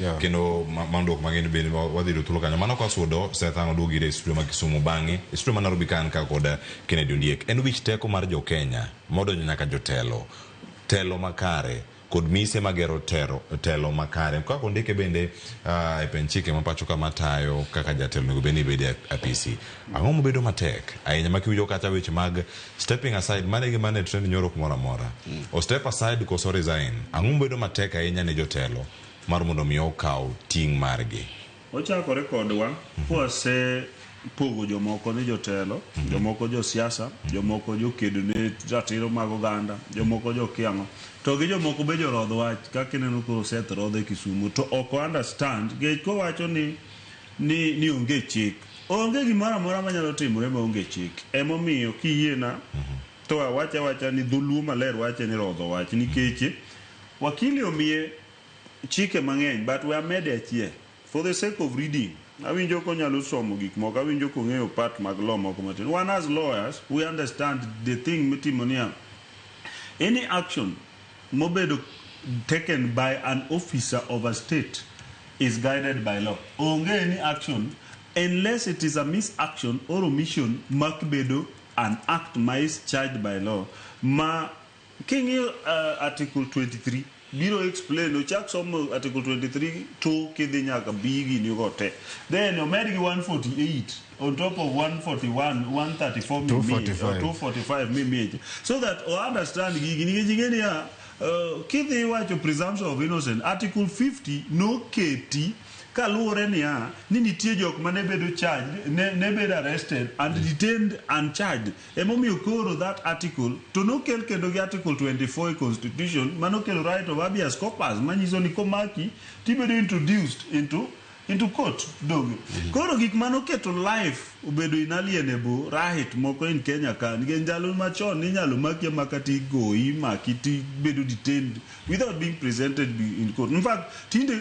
Yeah. kendo ma- mandok mang'eny bende ma wadhi yudo thuolo kanyo mano kwasudo sethan oduogi ire e studio ma kisumu bang'e e studio ma nairobi ka an ka kod eh, kennedy ondiek en wich teko mar jokenya modonjo nyaka jotelo telo makare kod mise magero tero, telo makare kaka ondike bende uh, e pen chike ma pacho ka matayo kaka jatelo onego bed ni bede e apisi ang'o mobedo matek ahinya ma kiwinjo kata weche mag stepping aside mane gi mane trend nyoro kumoro amora o step aside koso resign ang'o mobedo matek ahinya ne jotelo mar mondo mi okaw ting' margi. Ochakore kodwa kwase pogo jomoko ni jotelo, jomoko josiasa, jomoko jokedo ne ratiro mag oganda, jomoko jokia ang'o. To gi jomoko be jorodh wach kaka ineno koro Seth rodho e Kisumo to ok o understand nikech kowacho ni ni ni onge chik. Onge gimoro amora manyalo timore maonge chik. Emomiyo kiyiena to awache awacha ni dholuo maler wache ni rodho wach nikech Wakili omiye chike mang'eny but we amede achiel for the sake of reading. Awinjo konyalo somo gik moko, awinjo kong'eyo part mag law moko matin. Wan as lawyers we understand the thing mitimo niya, any action mobedo taken by an officer of a state is guided by law. Onge any action unless it is a miss action or omission makbedo an act ma is charged by law ma King'iyo uh, article 23 biro explain ochak somo article 23 to kidhi nyaka bi gini go te then omed gi 148 on top of 141 134 mimiye, 245. or 245 mimiye cha. so that o understand gigi nikech ing'e niya uh, kidhi wacho presumption of innocent article 50 noketi kaluwore niya ni nitie jok ma ne bedo charged ne, ne bedo arrested and detained and charged Emomiyo koro that article to nokel kendo gi article 24 e constitution mane okelo right of habeas corpus manyiso ni komaki to ibedo introduced into into court doge. Koro gik mane oketo life obedo inalienable right moko in Kenya ka nikech ndalo machon ne inyalo maki amaka to igoyi, imaki to ibedo detained without being presented in court. In fact tinde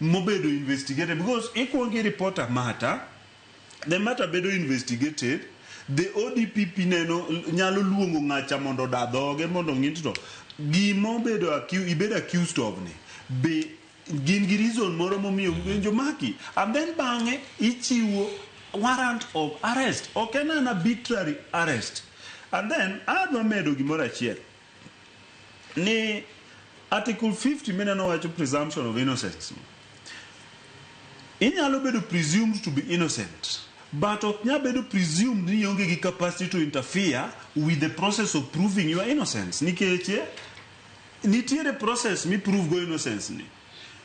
mobedo investigated because ikuongo i report a matter the matter bedo investigated the ODPP neno nyalo luongo ng'acha mondo oda dhoge mondo ng'i to gima obedo accu- ibedo accused of ni be gin gi reason moro momiyo winjo maki and then bang'e ichiwo warrant of arrest ok en an arbitrary arrest and then adwa medo gimoro achiel ni article 50 mineno wacho presumption of innocence inyalo bedo presumed to be innocent but ok nyal bedo presumed ni ionge gi capacity to interfere with the process of proving your innocence nikech eh, nitiere process mi prove go innocence ni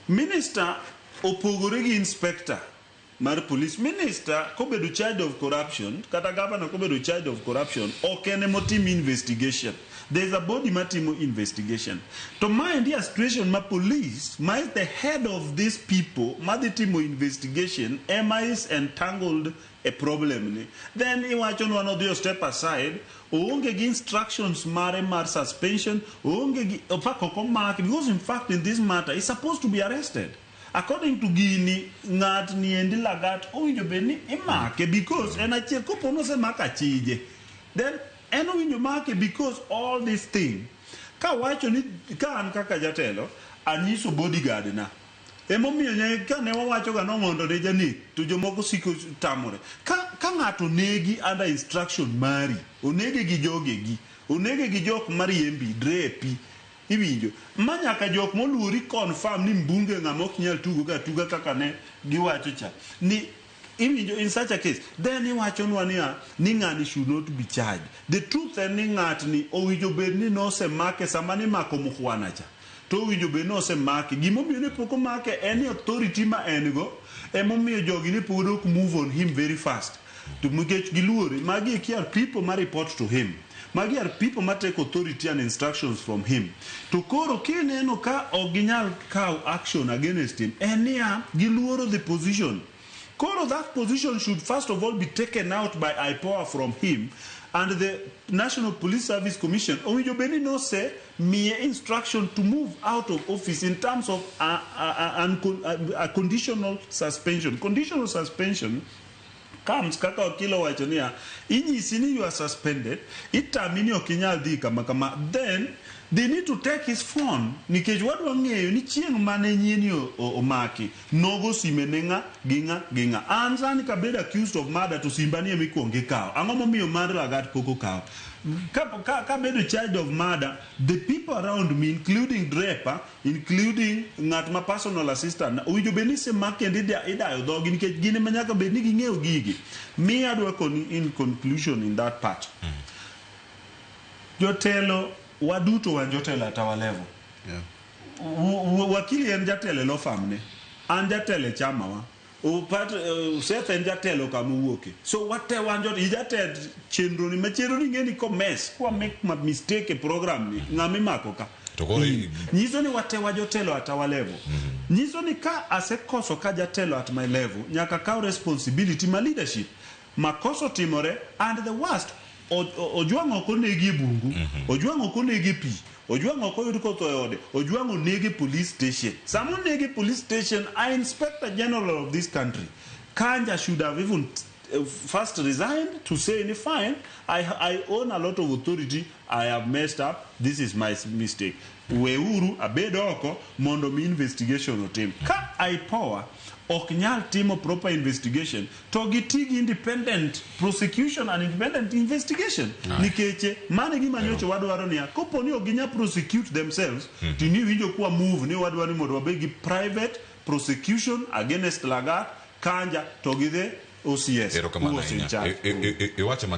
minister opogore gi inspector mar police, minister kobedo charged of corruption kata governor kobedo charged of corruption ok en ema otim investigation. There is a body matimo investigation. To maendi a situation ma police ma is the head of these people madhi timo investigation ema is entangled e problem ni. Then iwachonwa nodhi o step aside, oonge gi instructions mare mar suspension, oonge gi, in fact ok omake because in fact in this matter is supposed to be arrested. According to gini, ng'at ni endi Lagat owinjo bed ni imake because en achiel kopo ni osemako achije then en owinjo make because all this thing kawacho ni ka an kaka jatelo anyiso bodyguard na emomiyo nye- kane wawacho ga nong'ondo ne janek to jomoko siko tamore ka, ka ng'ato onegi under instruction mari onege gi jogegi onege gi jok mariembi drepi Iwinjo. Ma nyaka jok moluori confirm ni Mbunge ng'ama ok nyal tugo ga atuga kaka ne giwacho cha. Ni Iwinjo in such a case then iwachonwa niya ni ng'ani should not be charged. The truth en ni ng'atni owinjo bed ni nosemake sama nimako Mukhwana cha to owinjo bed ni osemake. Gima omiyo ne pok omake en ni authority ma en go emomiyo jogi ne pod ok move on him very fast. To nikech giluore, magi eki are people ma report to him. Magi are people ma take authority and instructions from him. To koro kineno ka ok ginyal kaw action against him, en niya, giluoro the position. Koro that position should first of all be taken out by IPOA from him and the National Police Service Commission owinjo bed ni nose miye instruction to move out of office in terms of a, a, a, a, a conditional suspension. Conditional suspension comes kaka wakil owacho niya, inyisi ni you are suspended, itami ni ok inyal dhi kama kama, then they need to take his phone nikech wadwa ng'eyo ni chieng' mane nyieni o- o- omaki nogo sime ne ng'a gi ng'a gi ng'a. An sani kabed accused of murder to simba ni emikwongo ikawo. Ang'o momiyo mar lagat pok okawo? Ka- ka- Kabedo charged of murder, the people around me including Drepa including ng'at ma personal assistant owinjo bed ni isemak kendo ida- idayo dhogi nikech gin ema nyaka bed ni ging'eyo gigi mi adwa koni in conclusion in that part jotelo waduto wan jotelo at our level Yeah. W- w- wakili en jatelo e law firm ne an jatelo e chamawa Upat, uh, Seth en jatelo kama owuoke. So wate wanjo i jatend chenro ni ma chenro ni ngeni komes kwa make ma mistake e program ni ng'ama imako ka. To koro i- Nyiso ni wate wajotelo at our level. Nyiso ni ka asekoso ka jatelo at my level nyaka kaw responsibility ma leadership. Makosa otimore and the worst Ojwang ok onegi e bungu, Ojwang ok onegi e pii, Ojwang ok oyud kotho e ode, Ojwang onege e police station. Sama onege e police station, a inspector general of this country, Kanja should have even first resigned to say ni fine, I, I own a lot of authority, I have messed up, this is my mistake. Weuru abed oko mondo mi investigation otim. Ka IPOA ok nyal timo proper investigation, to gi ti gi independent prosecution and independent investigation Aye. nikech eh, mano e gima nyocha wadwaro niya kopo ni ok ginya prosecute themselves to ni winjo kwa move ni wadwaro ni mondo wabed gi private prosecution against Lagat Kanja to gi the OCS Erokamano who was in ahinya. charge. I- i- i- Iwacho ma